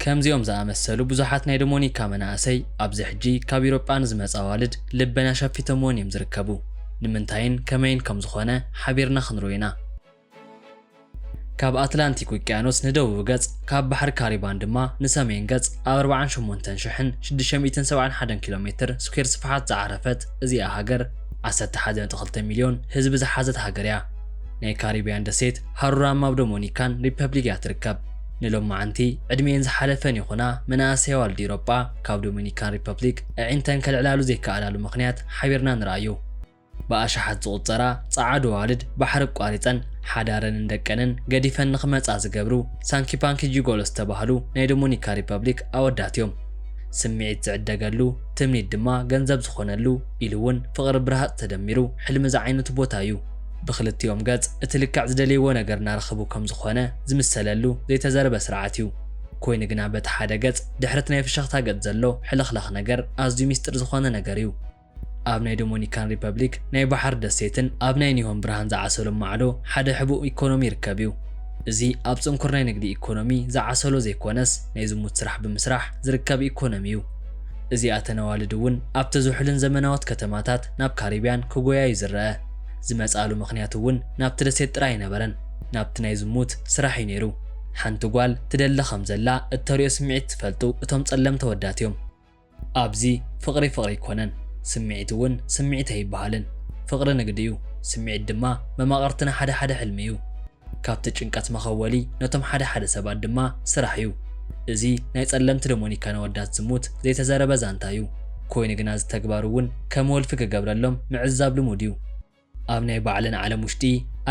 ከምዚኦም ዝኣመሰሉ ብዙሓት ናይ ዶሞኒካ መናእሰይ ኣብዚ ሕጂ ካብ ኢሮጳ ንዝመጻ ኣዋልድ ልበን ኣሸፊቶምወን እዮም ዝርከቡ ንምንታይን ከመይን ከም ዝኾነ ሓቢርና ክንርኢ ኢና ካብ ኣትላንቲክ ውቅያኖስ ንደቡብ ገጽ ካብ ባሕሪ ካሪባን ድማ ንሰሜን ገጽ ኣብ 48671 ኪሎ ሜትር ስኩዌር ስፍሓት ዝዓረፈት እዚኣ ሃገር ዓሰርተ ሓደ ነጥቢ ክልተ ሚልዮን ህዝቢ ዝሓዘት ሃገር እያ። ናይ ካሪብያን ደሴት ሃሩራ ማብ ዶሞኒካን ሪፐብሊክ እያ ትርከብ። ንሎምዓንቲ ዕድሚኤን ዝሓለፈን ይኹና መናእሰይ ኣዋልድ ኢሮጳ ካብ ዶሚኒካን ሪፐብሊክ ኣዒንተን ከልዕላሉ ዘይከኣላሉ ምኽንያት ሓቢርና ንርኣዩ። ብኣሽሓት ዝቑጸራ ጸዓዱ ኣዋልድ ባሕሪ ኣቋሪጸን ሓዳረንን ደቀንን ገዲፈን ንኽመጻ ዝገብሩ ሳንኪፓንኪ ጂጎሎ ዝተባህሉ ናይ ዶሞኒካ ሪፐብሊክ ኣወዳት እዮም። ስምዒት ዝዕደገሉ ትምኒት ድማ ገንዘብ ዝኾነሉ ኢሉ ውን ፍቕሪ ብረሃጽ ተደሚሩ ሕልሚ ዝዓይነቱ ቦታ ዩ። ብኽልቲኦም ገጽ እቲ ልክዕ ዝደለይዎ ነገር እናረኸቡ ከም ዝኾነ ዝምሰለሉ ዘይተዘርበ ስርዓት ዩ። ኮይኑ ግና በቲ ሓደ ገጽ ድሕሪቲ ናይ ፍሽኽታ ገጽ ዘሎ ሕልኽላኽ ነገር ኣዝዩ ሚስጥር ዝኾነ ነገር ዩ። ኣብ ናይ ዶሞኒካን ሪፐብሊክ ናይ ባሕሪ ደሴትን ኣብ ናይ ኒሆን ብርሃን ዝዓሰሎም ማዕዶ ሓደ ሕቡእ ኢኮኖሚ ይርከብ ዩ። እዚ ኣብ ጽንኩር ናይ ንግዲ ኢኮኖሚ ዝዓሰሎ ዘይኮነስ ናይ ዝሙት ስራሕ ብምስራሕ ዝርከብ ኢኮኖሚ ዩ። እዚኣተን ኣዋልድ እውን ኣብቲ ዝሑልን ዘመናዎት ከተማታት ናብ ካሪብያን ክጎያ እዩ ዝረኣ። ዝመጻኣሉ ምኽንያት እውን ናብቲ ደሴት ጥራይ ኣይነበረን፣ ናብቲ ናይ ዝሙት ስራሕ እዩ ነይሩ። ሓንቲ ጓል ትደሊ ከም ዘላ እተርእዮ ስምዒት ዝፈልጡ እቶም ጸለምቲ ኣወዳት እዮም። ኣብዚ ፍቕሪ ፍቕሪ ኣይኮነን፣ ስምዒት እውን ስምዒት ኣይበሃልን። ፍቕሪ ንግዲ እዩ፣ ስምዒት ድማ መማቕርቲ ናይ ሓደ ሓደ ሕልሚ እዩ። ካብቲ ጭንቀት መኸወሊ ነቶም ሓደ ሓደ ሰባት ድማ ስራሕ እዩ። እዚ ናይ ጸለምቲ ደሞኒካን ኣወዳት ዝሙት ዘይተዘረበ ዛንታ እዩ። ኮይኑ ግና እዚ ተግባር እውን ከም ወልፊ ክገብረሎም ምዕዛብ ልሙድ እዩ። ኣብ ናይ ባዕለን ዓለም ውሽጢ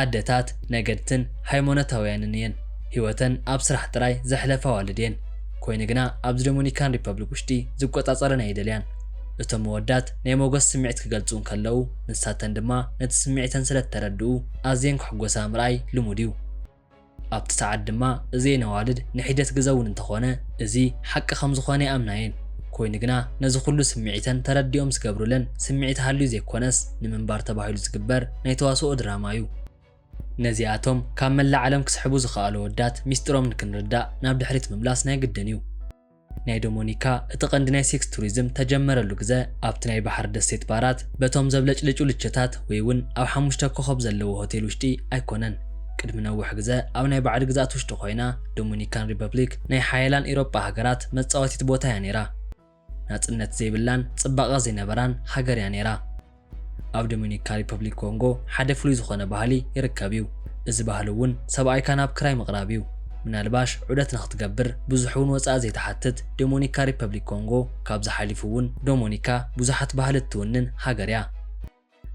ኣደታት ነገድትን ሃይሞኖታውያንን እየን። ህይወተን ኣብ ስራሕ ጥራይ ዘሕለፋ ኣዋልድ እየን። ኮይኑ ግና ኣብዚ ደሞኒካን ሪፐብሊክ ውሽጢ ዝቆጻጸረን ኣይደልያን። እቶም ኣወዳት ናይ ሞገስ ስምዒት ክገልጹ እንከለዉ፣ ንሳተን ድማ ነቲ ስምዒተን ስለ እተረድኡ ኣዝየን ክሕጐሳ ምርኣይ ልሙድ እዩ። ኣብቲ ሰዓት ድማ እዚኤን ኣዋልድ ንሒደት ግዘ እውን እንተዀነ እዚ ሓቂ ከም ዝዀነ ይኣምና እየን። ኰይኑ ግና ነዚ ዅሉ ስምዒተን ተረዲኦም ዝገብሩለን ስምዒት ሃልዩ ዘይኰነስ ንምንባር ተባሂሉ ዝግበር ናይ ተዋስኦ ድራማ እዩ። ነዚኣቶም ካብ መላእ ዓለም ክስሕቡ ዝኸኣሉ ኣወዳት ሚስጢሮም ንክንርዳእ ናብ ድሕሪት ምምላስ ናይ ግድን እዩ። ናይ ዶሞኒካ እቲ ቀንዲ ናይ ሴክስ ቱሪዝም ተጀመረሉ ግዘ ኣብቲ ናይ ባሕሪ ደሴት ባራት በቶም ዘብለጭልጩ ልቸታት ወይ እውን ኣብ ሓሙሽተ ኮኾብ ዘለዎ ሆቴል ውሽጢ ኣይኮነን። ቅድሚ ነውሕ ግዘ ኣብ ናይ ባዕዲ ግዝኣት ውሽጢ ኮይና ዶሞኒካን ሪፐብሊክ ናይ ሓየላን ኤሮጳ ሃገራት መፃወቲት ቦታ እያ ነይራ። ናፅነት ዘይብላን ፅባቐ ዘይነበራን ሃገር እያ ነይራ። ኣብ ዶሚኒካ ሪፐብሊክ ኮንጎ ሓደ ፍሉይ ዝኾነ ባህሊ ይርከብ እዩ። እዚ ባህሊ እውን ሰብኣይካ ናብ ክራይ ምቕራብ እዩ። ምናልባሽ ዑደት ንኽትገብር ብዙሕ እውን ወፃኢ ዘይትሓትት ዶሞኒካ ሪፐብሊክ ኮንጎ ካብዚ ሓሊፉ እውን ዶሞኒካ ብዙሓት ባህሊ እትውንን ሃገር እያ።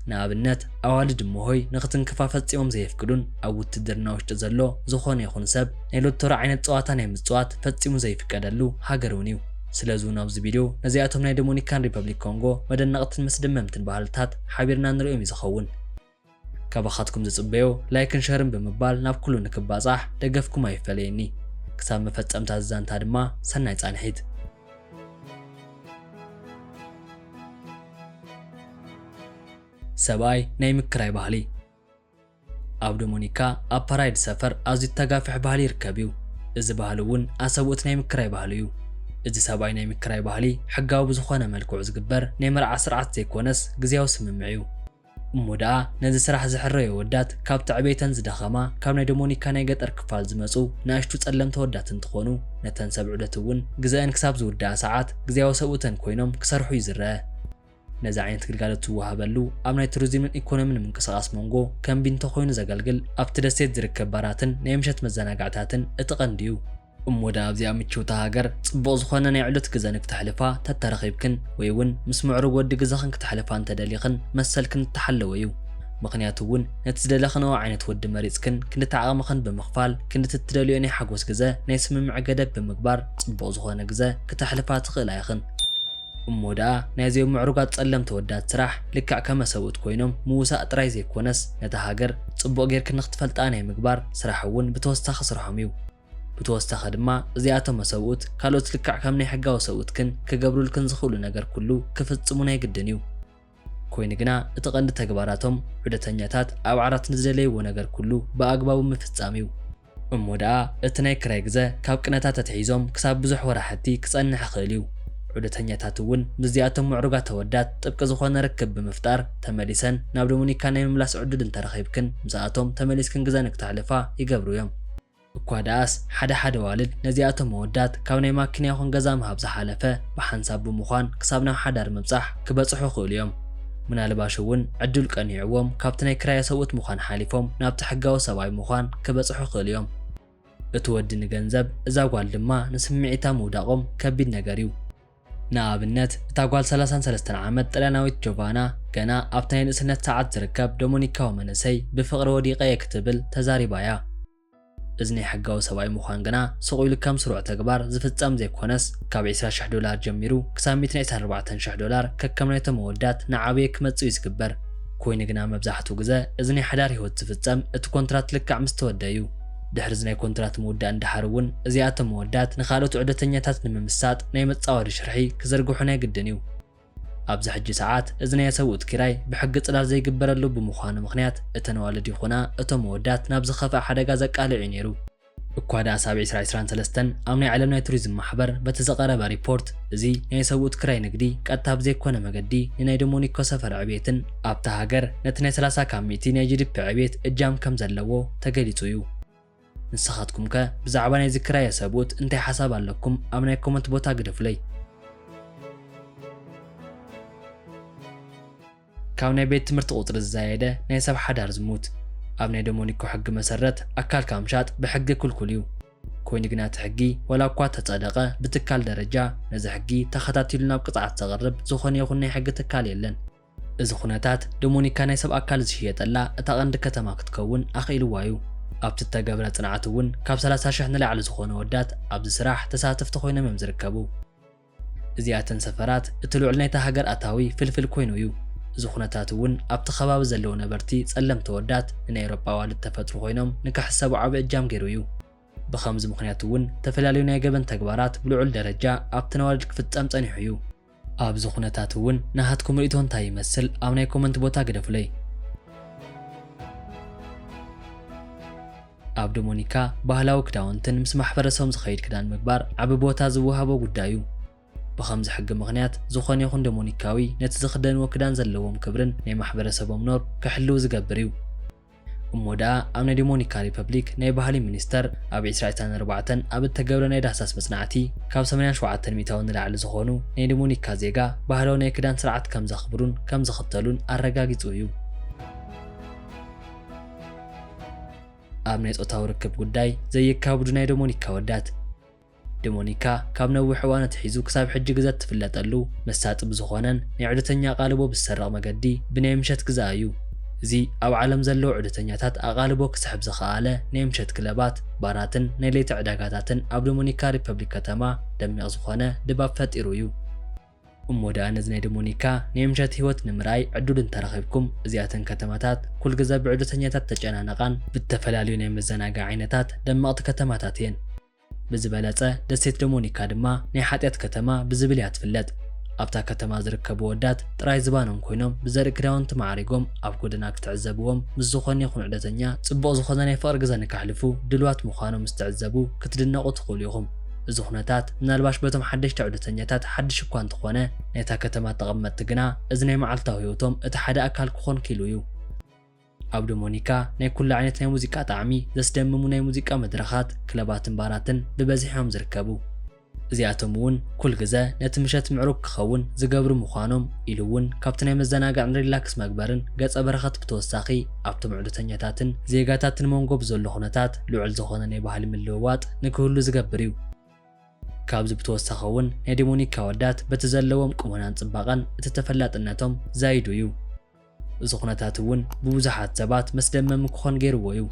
ንኣብነት ኣዋልድ እሞሆይ ንኽትንክፋ ፈፂሞም ዘየፍቅዱን ኣብ ውትድርና ውሽጢ ዘሎ ዝኾነ ይኹን ሰብ ናይ ሎቶሪ ዓይነት ፀዋታ ናይ ምፅዋት ፈፂሙ ዘይፍቀደሉ ሃገር እውን እዩ። ስለዚ እውን ኣብዚ ቪድዮ ነዚኣቶም ናይ ደሞኒካን ሪፐብሊክ ኮንጎ መደነቕትን መስደመምትን ባህልታት ሓቢርና ንርእዮም እዩ ዝኸውን። ካባኻትኩም ዝጽበዮ ላይክን ሸርን ብምባል ናብ ኩሉ ንክባጻሕ ደገፍኩም ኣይፈለየኒ። ክሳብ መፈጸምታ እዚ ዛንታ ድማ ሰናይ ጻንሒት። ሰብኣይ ናይ ምክራይ ባህሊ። ኣብ ዶሞኒካ ኣብ ፓራይድ ሰፈር ኣዝዩ ተጋፍሕ ባህሊ ይርከብ እዩ። እዚ ባህሊ እውን ኣሰብኡት ናይ ምክራይ ባህሊ እዩ። እዚ ሰብኣይ ናይ ምክራይ ባህሊ ሕጋዊ ብዝኾነ መልክዑ ዝግበር ናይ መርዓ ስርዓት ዘይኮነስ ግዝያዊ ስምምዕ እዩ። እሞ ደኣ ነዚ ስራሕ ዝሕረዩ ኣወዳት ካብቲ ዕቤተን ዝደኸማ ካብ ናይ ዶሞኒካ ናይ ገጠር ክፋል ዝመጹ ንኣሽቱ ጸለምቲ ኣወዳት እንትኾኑ ነተን ሰብ ዑደት እውን ግዘኣን ክሳብ ዝውደኣ ሰዓት ግዝያዊ ሰብኡተን ኮይኖም ክሰርሑ እዩ ዝረኣ። ነዚ ዓይነት ግልጋሎት ዝወሃበሉ ኣብ ናይ ቱሪዚምን ኢኮኖሚን ምንቅስቓስ ሞንጎ ከም ቢንቶ ኮይኑ ዘገልግል ኣብቲ ደሴት ዝርከብ ባራትን ናይ ምሸት መዘናግዕታትን እቲ ቀንዲ እዩ። እሞ ድኣ ኣብዚኣ ምችውቲ ሃገር ጽቡቕ ዝኾነ ናይ ዕሉት ግዘ ንክተሕልፋ ተተረኺብክን ወይ እውን ምስ ምዕሩግ ወዲ ግዘኽን ክተሕልፋ እንተደሊኽን መሰልክን ዝተሓለወ እዩ። ምኽንያቱ እውን ነቲ ዝደለኽንኦ ዓይነት ወዲ መሪጽክን ክንድቲ ዓቕምኽን ብምኽፋል ክንድቲ እትደልይኦ ናይ ሓጎስ ግዘ ናይ ስምምዕ ገደብ ብምግባር ጽቡቕ ዝኾነ ግዘ ክተሕልፋ ትኽእላ ኢኽን። እሞ ደኣ ናይዞም ምዕሩጋት ጸለምቲ ኣወዳት ስራሕ ልክዕ ከመ ሰብኡት ኮይኖም ምውሳእ ጥራይ ዘይኮነስ ነታ ሃገር ጽቡቕ ጌርኪ ንኽትፈልጣ ናይ ምግባር ስራሕ እውን ብተወሳኺ ስርሖም እዩ። ብተወሳኺ ድማ እዚኣቶመ ሰብኡት ካልኦት ልክዕ ከም ናይ ሕጋዊ ሰብኡትክን ክገብሩልክን ዝኽእሉ ነገር ኩሉ ክፍጽሙ ናይ ግድን እዩ። ኮይኑ ግና እቲ ቀንዲ ተግባራቶም ዑደተኛታት ኣብ ዓራት ንዝደለይዎ ነገር ኩሉ ብኣግባቡ ምፍጻም እዩ። እሞ ደኣ እቲ ናይ ክራይ ግዘ ካብ ቅነታት ኣትሒዞም ክሳብ ብዙሕ ወራሕቲ ክጸንሕ ይኽእል እዩ። ዑደተኛታት እውን ምስዚኣቶም ምዕሩጋት ኣወዳት ጥብቂ ዝኾነ ርክብ ብምፍጣር ተመሊሰን ናብ ዶሚኒካ ናይ ምምላስ ዕዱል እንተረኺብክን ምስኣቶም ተመሊስክን ግዘ ንክተሕልፋ ይገብሩ እዮም። እኳ ደኣስ ሓደ ሓደ ኣዋልድ ነዚኣቶም ኣወዳት ካብ ናይ ማኪና ይኹን ገዛ ምሃብ ዝሓለፈ ብሓንሳብ ብምዃን ክሳብ ናብ ሓዳር ምብጻሕ ክበጽሑ ይኽእሉ እዮም። ምናልባሽ እውን ዕድል ቀኒዕዎም ካብቲ ናይ ክራየ ሰብኡት ምዃን ሓሊፎም ናብቲ ሕጋዊ ሰብኣይ ምዃን ክበጽሑ ይኽእሉ እዮም። እቲ ወዲ ንገንዘብ እዛ ጓል ድማ ንስምዒታ ምውዳቖም ከቢድ ነገር እዩ። ንኣብነት፣ እታ ጓል ሰላሳን ሰለስተን ዓመት ጥልያናዊት ጆቫና፣ ገና ኣብቲ ናይ ንእስነት ሰዓት ዝርከብ ዶመኒካዊ መንእሰይ ብፍቕሪ ወዲቐ እየ ክትብል ተዛሪባ እያ። እዚ ናይ ሕጋዊ ሰብኣይ ምዃን ግና ስቕ ኢሉ ከም ስሩዕ ተግባር ዝፍጸም ዘይኰነስ፣ ካብ ዕስራ ሽሕ ዶላር ጀሚሩ ክሳብ ሚእትን ዕስራን ኣርባዕተን ሽሕ ዶላር ከከም ናይቶም ኣወዳት እናዓበየ ክመጽእ እዩ ዝግበር። ኰይኑ ግና፣ መብዛሕትኡ ግዘ እዚ ናይ ሓዳር ህይወት ዝፍጸም እቲ ኰንትራት ልክዕ ምስ ተወድኣ እዩ። ድሕሪ'ዚ ናይ ኮንትራት ምውዳእን ደሓር'ውን እዚኣቶም መወዳት ንኻልኦት ዑደተኛታት ንምምሳጥ ናይ መጻወዲ ሽርሒ ክዝርግሑ ናይ ግድን'ዩ። ኣብዚ ሕጂ ሰዓት እዚ ናይ ኣሰብኡት ኪራይ ብሕጊ ጽላል ዘይግበረሉ ብምዃኑ ምኽንያት እተን ኣዋልድ ይኹና እቶም መወዳት ናብ ዝኸፍኣ ሓደጋ ዘቃልዕ'ዩ ነይሩ። እኳ ደኣ ሳብዕ ዕስራ ዕስራን ሰለስተን ኣብ ናይ ዓለም ናይ ቱሪዝም ማሕበር በቲ ዝቐረበ ሪፖርት እዚ ናይ ኣሰብኡት ክራይ ንግዲ ቀጥታ ብዘይኮነ መገዲ ንናይ ዶሞኒኮ ሰፈር ዕብየትን ኣብታ ሃገር ነቲ ናይ ሰላሳ ካብ ሚእቲ ናይ ጂዲፒ ዕብየት እጃም ከም ዘለዎ ተገሊጹ እዩ። ንስኻትኩም ከ ብዛዕባ ናይዚ ክራየ ሰብኡት እንታይ ሓሳብ ኣለኩም ኣብ ናይ ኮመንት ቦታ ግደፉለይ። ካብ ናይ ቤት ትምህርቲ ቁጽሪ ዝዛየደ ናይ ሰብ ሓዳር ዝሙት ኣብ ናይ ዶሞኒኮ ሕጊ መሰረት ኣካልካ ምሻጥ ብሕጊ ክልኩል እዩ። ኮይኑ ግና እቲ ሕጊ ዋላ እኳ ተጸደቐ ብትካል ደረጃ ነዚ ሕጊ ተኸታቲሉ ናብ ቅጽዓት ዘቕርብ ዝኾነ ይኹን ናይ ሕጊ ትካል የለን። እዚ ዅነታት፣ ዶመኒካ ናይ ሰብ ኣካል ዝሽየጠላ እታ ቐንዲ ከተማ ክትከውን ኣኽኢልዋ እዩ። ኣብቲ እተገብረ ጽንዓት እውን ካብ ሰላሳ ሽሕ ንላዕሊ ዝዀኑ ኣወዳት ኣብዚ ስራሕ ተሳተፍቲ ዀይኖም እዮም ዝርከቡ። እዚኣተን ሰፈራት እቲ ልዑል ናይታ ሃገር ኣታዊ ፍልፍል ኰይኑ እዩ። እዚ ዅነታት እውን ኣብቲ ኸባቢ ዘለዉ ነበርቲ ጸለምቲ ኣወዳት ንናይ ኤውሮጳ ኣዋልድ እተፈጥሩ ዀይኖም ንክሕሰቡ ዓቢ እጃም ገይሩ እዩ። ብኸምዚ ምኽንያት እውን እተፈላለዩ ናይ ገበን ተግባራት ብልዑል ደረጃ ኣብተን ኣዋልድ ክፍጸም ጸኒሑ እዩ። ኣብዚ ኩነታት እውን ናሃትኩም ርእቶ እንታይ ይመስል ኣብ ናይ ኮመንት ቦታ ግደፉለይ። ኣብ ዶሞኒካ ባህላዊ ክዳውንትን ምስ ማሕበረሰቦም ዝኸይድ ክዳን ምግባር ዓቢ ቦታ ዝወሃቦ ጉዳይ እዩ። ብኸምዚ ሕጊ ምኽንያት ዝኾነ ይኹን ዶሞኒካዊ ነቲ ዝኽደንዎ ክዳን ዘለዎም ክብርን ናይ ማሕበረሰቦም ኖር ክሕልው ዝገብር እዩ። እሞ ደኣ ኣብ ናይ ዶሞኒካ ሪፐብሊክ ናይ ባህሊ ሚኒስተር ኣብ ዕስራ ዕስራን ኣርባዕተን ኣብ እተገብረ ናይ ዳህሳስ መጽናዕቲ ካብ ሰማንያን ሸውዓተን ሚእታዊ ንላዕሊ ዝኾኑ ናይ ዶሞኒካ ዜጋ ባህላዊ ናይ ክዳን ስርዓት ከም ዘኽብሩን ከም ዝኽተሉን ኣረጋጊጹ እዩ። ኣብ ናይ ጾታዊ ርክብ ጉዳይ ዘየካብዱ ናይ ዶሞኒካ ኣወዳት፣ ድሞኒካ ካብ ነዊሕ እዋን ኣትሒዙ ክሳብ ሕጂ ግዘ እትፍለጠሉ መሳጢ ብዝኾነን ናይ ዑደተኛ ኣቓልቦ ብዝሰርቕ መገዲ ብናይ ምሸት ግዘኣ እዩ። እዚ ኣብ ዓለም ዘለዉ ዑደተኛታት ኣቓልቦ ክስሕብ ዝኸኣለ ናይ ምሸት ክለባት፣ ባራትን ናይ ለይቲ ዕዳጋታትን ኣብ ዶሞኒካ ሪፐብሊክ ከተማ ደሚቕ ዝኾነ ድባብ ፈጢሩ እዩ። እሞ ደኣ ነዚ ናይ ደሞኒካ ናይ ምሸት ህይወት ንምርኣይ ዕዱል እንተረኺብኩም እዚኣተን ከተማታት ኩል ግዘ ብዕዶተኛታት እተጨናነቓን ብእተፈላለዩ ናይ መዘናግዒ ዓይነታት ደመቕቲ ከተማታት እየን። ብዝበለፀ ደሴት ደሞኒካ ድማ ናይ ሓጢኣት ከተማ ብዝብል እያ ትፍለጥ። ኣብታ ከተማ ዝርከቡ ወዳት ጥራይ ዝባኖም ኮይኖም ብዘርኢ ክዳውንቲ ማዕሪጎም ኣብ ጎደና ክትዕዘብዎም ምስ ዝኾነ ይኹን ዕዶተኛ ፅቡቕ ዝኾነ ናይ ፍቕሪ ግዘ ንከሕልፉ ድልዋት ምዃኖም ምስ ትዕዘቡ ክትድነቑ ትኽእሉ ኢኹም። እዚ ኩነታት ምናልባሽ በቶም ሓደሽቲ ዑደተኛታት ሓድሽ እኳ እንተኾነ፣ ናይታ ከተማ ተቐመጥቲ ግና እዚ ናይ መዓልታዊ ህይወቶም እቲ ሓደ ኣካል ክኾን ክኢሉ እዩ። ኣብ ዶሞኒካ ናይ ኩሉ ዓይነት ናይ ሙዚቃ ጣዕሚ ዘስደምሙ ናይ ሙዚቃ መድረኻት፣ ክለባትን ባራትን ብበዝሒ እዮም ዝርከቡ። እዚኣቶም እውን ኩል ግዘ ነቲ ምሸት ምዕሩግ ክኸውን ዝገብሩ ምዃኖም ኢሉ እውን ካብቲ ናይ መዘናግዕን ሪላክስ መግበርን ገፀ በረከት ብተወሳኺ፣ ኣብቶም ዕዶተኛታትን ዜጋታትን መንጎ ብዘሎ ኩነታት ልዑል ዝኾነ ናይ ባህሊ ምልውዋጥ ንክህሉ ዝገብር እዩ። ካብዚ ብተወሳኺ እውን ናይ ደሞኒካ ኣወዳት በቲ ዘለዎም ቁመናን ፅባቐን እቲ ተፈላጥነቶም ዛይዱ እዩ። እዚ ኩነታት እውን ብብዙሓት ሰባት መስደመሚ ክኾን ገይርዎ እዩ።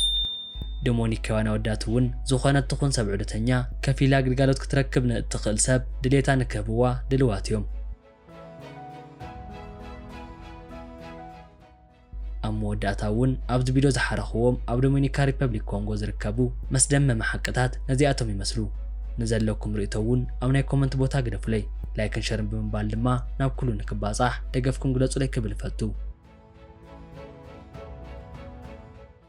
ደሞኒካውያን ኣወዳት እውን ዝኾነት ትኹን ሰብ ዕዶተኛ ከፊላ ግልጋሎት ክትረክብ ንእትኽእል ሰብ ድሌታ ንክህብዋ ድልዋት እዮም። ኣብ መወዳእታ እውን ኣብዚ ቪድዮ ዝሓረኽዎም ኣብ ዶሚኒካ ሪፐብሊክ ኮንጎ ዝርከቡ መስደመሚ ሓቅታት ነዚኣቶም ይመስሉ። ንዘለኩም ርእይቶ እውን ኣብ ናይ ኮመንት ቦታ ግደፉለይ። ላይክን ሸርን ብምባል ድማ ናብ ኩሉ ንክባጻሕ ደገፍኩም ግለጹለይ ክብል እፈቱ።